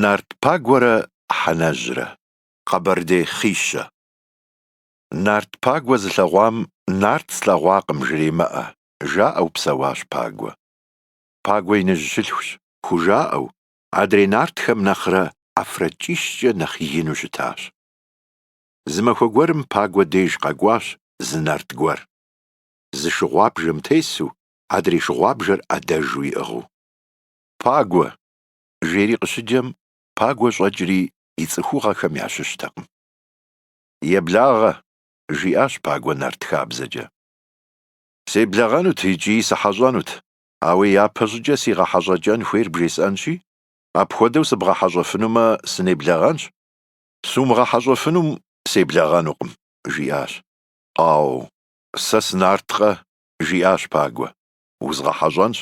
Нарт Пагуэрэ Хьэнэжьрэ, Къэбэрдей хъищэ. Нарт Пагуэ зылъэгъуам Нарт слъэгъуакъым жремыӏэ, жаӏэу псэуащ Пагуэ. Пагуэ иныжь щылъхущ, хужаӏэу, Адрей нартхэм нэхърэ ӏэфракӏищкӏэ нэхъ ину щытащ. Зы махуэ гуэрым Пагуэ деж къэкӏуащ зы нарт гуэр. Зы шыгъуабжэм тесу, адрей шыгъуабжэр ӏэдэжу иӏыгъыу. Пагуэ! жери къыщыджэм, Пагуэ щӏэкӏри и цӏыхугъэхэм ящыщтэкъым. Еблагъэ! жиӏащ Пагуэ нарт хабзэкӏэ. Себлэгъэнут икӏи сыхьэщӏэнут, Ауэ япэщӏыкӏэ си гъэхьэщӏэкӏэн хуейр бжесӏэнщи, апхуэдэу сыбгъэхьэщӏэфынумэ, сынеблэгъэнщ, сумыгъэхьэщӏэфынум себлэгъэнукъым, жиӏащ. Ау, сэ сынарткъэ, жиӏащ Пагуэ, узгъэхьэщӏэнщ.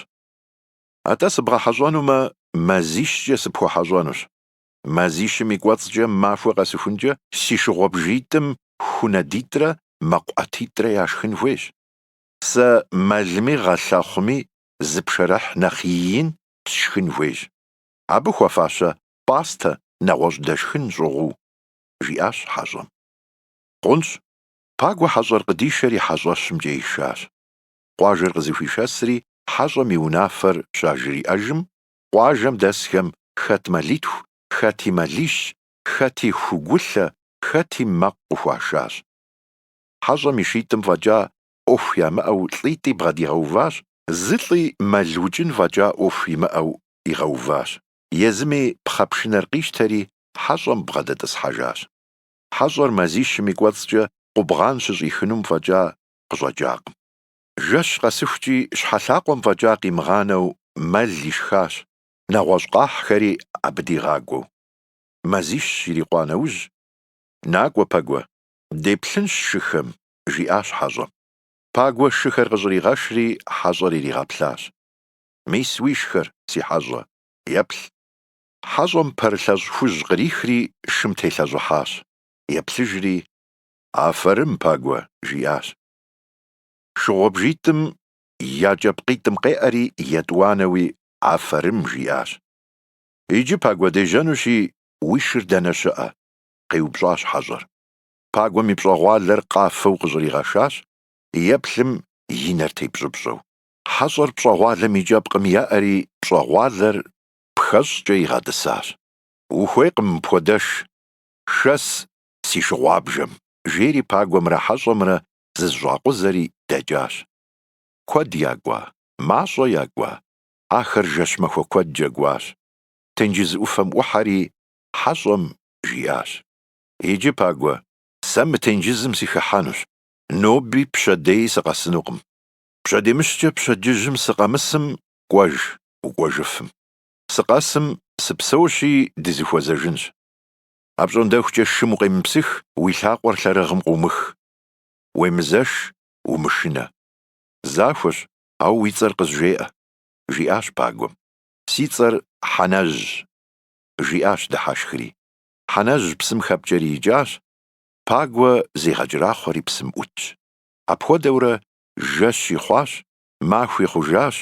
Атӏэ сыбгъэхьэщӏэнумэ, мазищкӏэ сыпхуэхьэщӏэнущ. Мазищым и кӏуэцӏкӏэ махуэ къэсыхункӏэ си шыгъуэбжитӏым ху нэдитӏрэ мэкъу ӏэтитӏрэ яшхын хуейщ. Сэ мэлми гъэлъэхъуми зы пшэрыхь нэхъ иин сшхын хуейщ. Абы хуэфащэ пӏастэ нэгъуэщӏ дэшхын щӏыгъуу, жиӏащ хьэщӏэм. Хъунщ, Пагуэ хьэщӏэр къыдишэри хьэщӏэщымкӏэ ишащ. Къуажэр къызыхуишэсри хьэщӏэм и унафэр щажриӏэжым, къуажэм дэсхэм хэт мэлитху, хэти мэлищ, хэти ху гулъэ, хэти мэкъу къыхуашащ. хьэщӏэм и шитӏым фӏэкӏа ӏуэху ямыӏэу лӏитӏи бгъэдигъэуващ, зы лӏи мэл укӏын фӏэкӏа ӏуэху имыӏэу игъэуващ. Езыми пхъэпшынэр къищтэри, хьэщӏэм бгъэдэтӏысхьэжащ. Хьэщӏэр мазищым и кӏуэцӏкӏэ къубгъан щыщӏихынум фӏэкӏа къыщӏэкӏакъым. Жэщ къэсыхукӏи, щхьэлъакъуэм фӏэкӏа къимыгъанэу мэл ишхащ, нэгъуэщӏ къахьхэри абы дигъакӏуэу. Мазищ ирикъуа нэужь, Накӏуэ, Пагуэ, Деплъынщ шыхэм, жиӏащ хьэщӏэм. Пагуэ шыхэр къыщӏригъэшри, хьэщӏэр иригъэплъащ. Мис уишхэр, си хьэщӏэ, еплъ. Хьэщӏэм пэрылъэщӏ хужь кърихри, шым телъэщӏыхьащ. Еплъыжри, Афэрым, Пагуэ, жиӏащ. Шыгъуэбжитӏым я кӏэпкъитӏым къеӏэри, етӏуанэуи, Афэрым, жиӏащ. Иджы, Пагуэ, дежьэнущи, уи шыр дэнэ щыӏэ? къеупщӏащ хьэщӏэр. Пагуэм и пщӏэгъуалэр къафэу къыщӏригъэшащ, еплъым и нэр тепщӏыпщӏэу. Хьэщӏэр пщӏэгъуалэм и кӏэпкъым еӏэри, пщӏэгъуалэр пхэщӏкӏэ игъэтӏысащ. Ухуейкъым мыпхуэдэш, шэс, си шыгъуабжэм, жери Пагуэмрэ хьэщӏэмрэ зызыщӏакъузэри дэкӏащ. Куэд якӏуа, мащӏэ якӏуа, ахэр жэщ махуэ куэдкӏэ кӏуащ. Тенджыз ӏуфэм ӏухьэри, хьэщӏэм жиӏащ, Иджы, Пагуэ, сэ мы тенджызым сыхыхьэнущ, ноби пщэдеи сыкъэсынукъым. Пщэдемыщкӏэ пщэдджыжьым сыкъэмысым, кӏуэж, укӏуэжыфым. Сыкъэсым, сыпсэущи, дызыхуэзэжынщ. Апщӏондэхукӏэ шым укъемыпсых, уи лъакъуэр лъэрыгъым къыумых. Уемызэш, умышынэ. Захуэщ, ауэ уи цӏэр къызжеӏэ, жиӏащ Пагуэм. Си цӏэр Хьэнэжьщ. жиӏащ дыхьэшхри. Хьэнэжь псым хэпкӏэри икӏащ, Пагуэ зегъэкӏэрахъуэри псым ӏутщ. Апхуэдэурэ жэщи хъуащ, махуи хъужащ,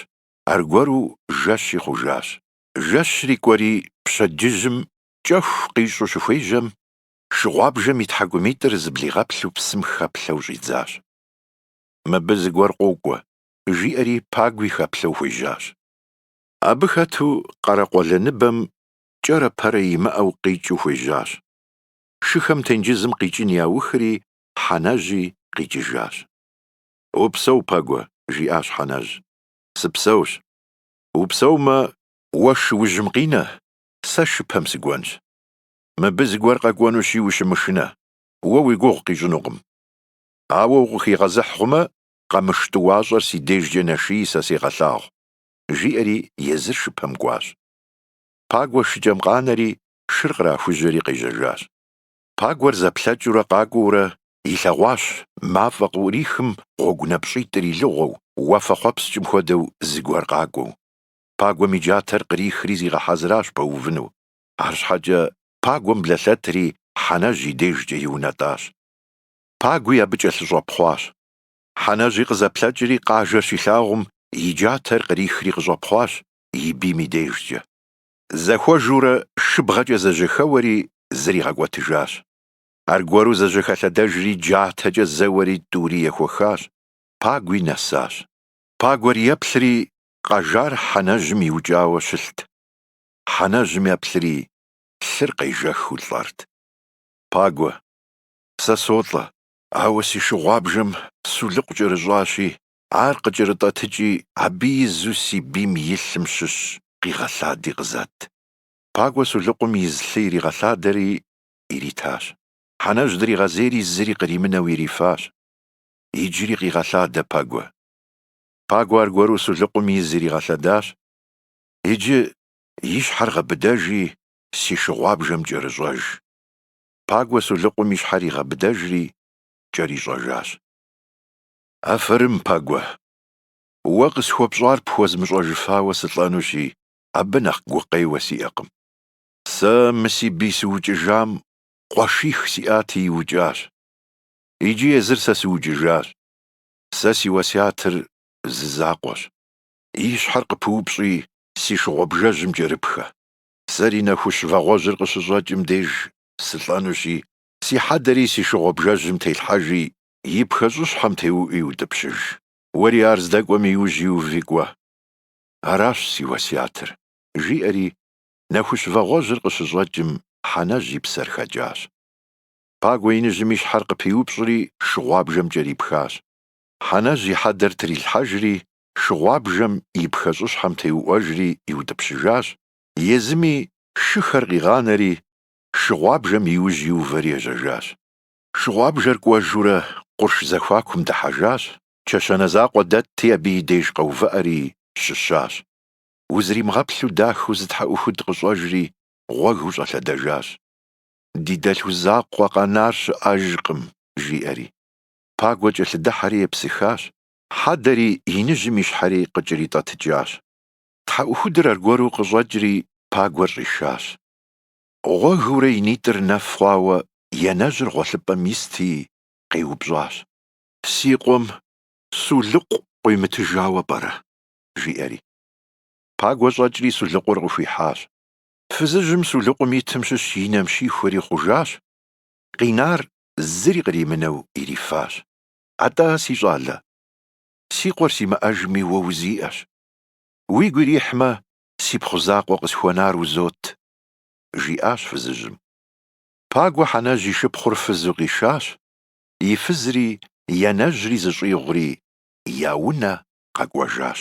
аргуэру жэщи хъужащ. Жэщри кӏуэри пщэдджыжьым кӏэху къищӏу щыхуежьэм, шыгъуабжэм и тхьэкӏумитӏыр зыблигъэплъу псым хэплъэу щӏидзащ. Мыбы зыгуэр къокӏуэ, жиӏэри Пагуи хэплъэу хуежьащ. Абы хэту къэрэкъуэлэныбэм кӏэрэ пэрэ имыӏэу къикӏыу хуежьащ. Шыхэм тенджызым къикӏын яухри, Хьэнэжьи къикӏыжащ. Упсэу, Пагуэ, жиӏащ Хьэнэжь. Сыпсэущ. Упсэумэ, уэ шыужьым къинэ, сэ шыпэм сыкӏуэнщ. Мыбы зыгуэр къэкӏуэнущи ущымышынэ, уэ уи гугъу къищӏынукъым. Ауэ укъыхигъэзыхь хъумэ, къэмыш тӏуащӏэр си дежкӏэ нэший сэ сегъэлъагъу. жиӏэри езыр шыпэм кӏуащ. Пагуэ шыкӏэм къанэри, шыр кърахужьэри къежьэжащ. Пагуэр зэплъэкӏыурэ къакӏуэурэ илъэгъуащ мафӏэ къыӏурихым гъуэгу напщӏитӏыр илыгъуэу, уафэхъуэпскӏым хуэдэу зыгуэр къакӏуэу. Пагуэм и джатэр кърихри зигъэхьэзыращ пэувыну. Арщхьэкӏэ Пагуэм блэлъэтри Хьэнэжь и дежкӏэ иунэтӏащ. Пагуи абы кӏэлъыщӏэпхъуащ. Хьэнэжьи къызэплъэкӏри къажэр щилъагъум, и джатэр кърихри къыщӏэпхъуащ и бийм и дежкӏэ. Зэхуэжурэ шыбгъэкӏэ зэжьэхэуэри зригъэкӏуэтыжащ. Аргуэру зэжьэхэлъэдэжри джатэкӏэ зэуэри тӏури ехуэхащ, Пагуи нэсащ. Пагуэр еплъри, къэжар Хьэнэжьым иукӏауэ щылът. Хьэнэжьым еплъри, лъыр къежэхыу лӏэрт. Пагуэ, сэ солӏэ, Ауэ си шыгъуабжэм сулыкъу кӏэрыщӏащи, ар къыкӏэрытӏэтыкӏи, абы изу си бийм и лъым щыщ къигъэлъади къызэт. Пагуэ сулыкъум из лъы иригъэлъадэри иритащ. Хьэнэжь дригъэзейри зыри къримынэу ирифащ. Иджыри къигъэлъадэ Пагуэ. Пагуэ аргуэру сулыкъум из иригъэлъадащ. Иджы и щхьэр гъэбыдэжи, си шыгъуабжэм кӏэрыщӏэж. Пагуэ сулыкъум и щхьэр игъэбыдэжри, кӏэрищӏэжащ. Афэрым, Пагуэ! Уэ къысхуэпщӏар пхуэзмыщӏэжыфауэ сылӏэнущи, абы нэхъ гукъеуэ сиӏэкъым. Сэ мы си бий сыукӏыжам къуэших сиӏати иукӏащ. Иджы езыр сэ сыукӏыжащ. Сэ си уэсятыр зы закъуэщ. И щхьэр къыпыупщӏи, си шыгъуэбжэжьым кӏэрыпхэ. Сэри нэхущ вагъуэжьыр къыщыщӏэкӏым деж сылӏэнущи, си хьэдэри си шыгъуэбжэжьым телъхьэжи, и пхэщӏыщхьэм теуӏуи утӏыпщыж. Уэри ар здэкӏуэм иужь иуви кӏуэ. Аращ си уэсятыр, жиӏэри, нэхущ вагъуэжьыр къыщыщӏэкӏым, Хьэнэжь и псэр хэкӏащ. Пагуэ иныжьым и щхьэр къыпиупщӏри, шыгъуабжэм кӏэрипхащ. Хьэнэжь и хьэдэр трилъхьэжри, шыгъуабжэм и пхэщӏыщхьэм теуӏуэжри иутӏыпщыжащ, езыми шыхэр къигъанэри, шыгъуабжэм иужь иувэри ежьэжащ. Шыгъуабжэр кӏуэжурэ къурш зэхуакум дыхьэжащ, чэщанэ закъуэ дэтти абы и деж къэувыӏэри щыщащ. Узримыгъэплъу дахэу зы тхьэӏухуд къыщӏэжри, гъуэгыу щӏэлъэдэжащ. Ди дэлъху закъуэ къэнар щыӏэжкъым, жиӏэри. Пагуэ кӏэлъыдыхьэри епсыхащ, Хьэдэри, иныжьым и щхьэри къыкӏэритӏэтыкӏащ. Тхьэӏухудыр аргуэру къыщӏэкӏри, Пагуэр щӏишащ. Гъуэгыурэ и нитӏыр нэф хъуауэ янэжьыр гъуэлъыпӏэм исти, къеупщӏащ. Си къуэм сулыкъу къуимытыжауэ пӏэрэ? жиӏэри. Пагуэ щӏэкӏри сулыкъур къыхуихьащ. Фызыжьым сулыкъум итым щыщ и нэм щихуэри хъужащ, къинар зыри къримынэу ирифащ. Атӏэ, си щӏалэ, си къуэр симыӏэжми уэ узиӏэщ. Уигу ирихьмэ, си пхъу закъуэ къысхуэнар узот, жиӏащ фызыжьым. Пагуэ Хьэнэжь и шыпхъур фызу къишащ, и фызри янэжьри зыщӏигъури я унэ къэкӏуэжащ.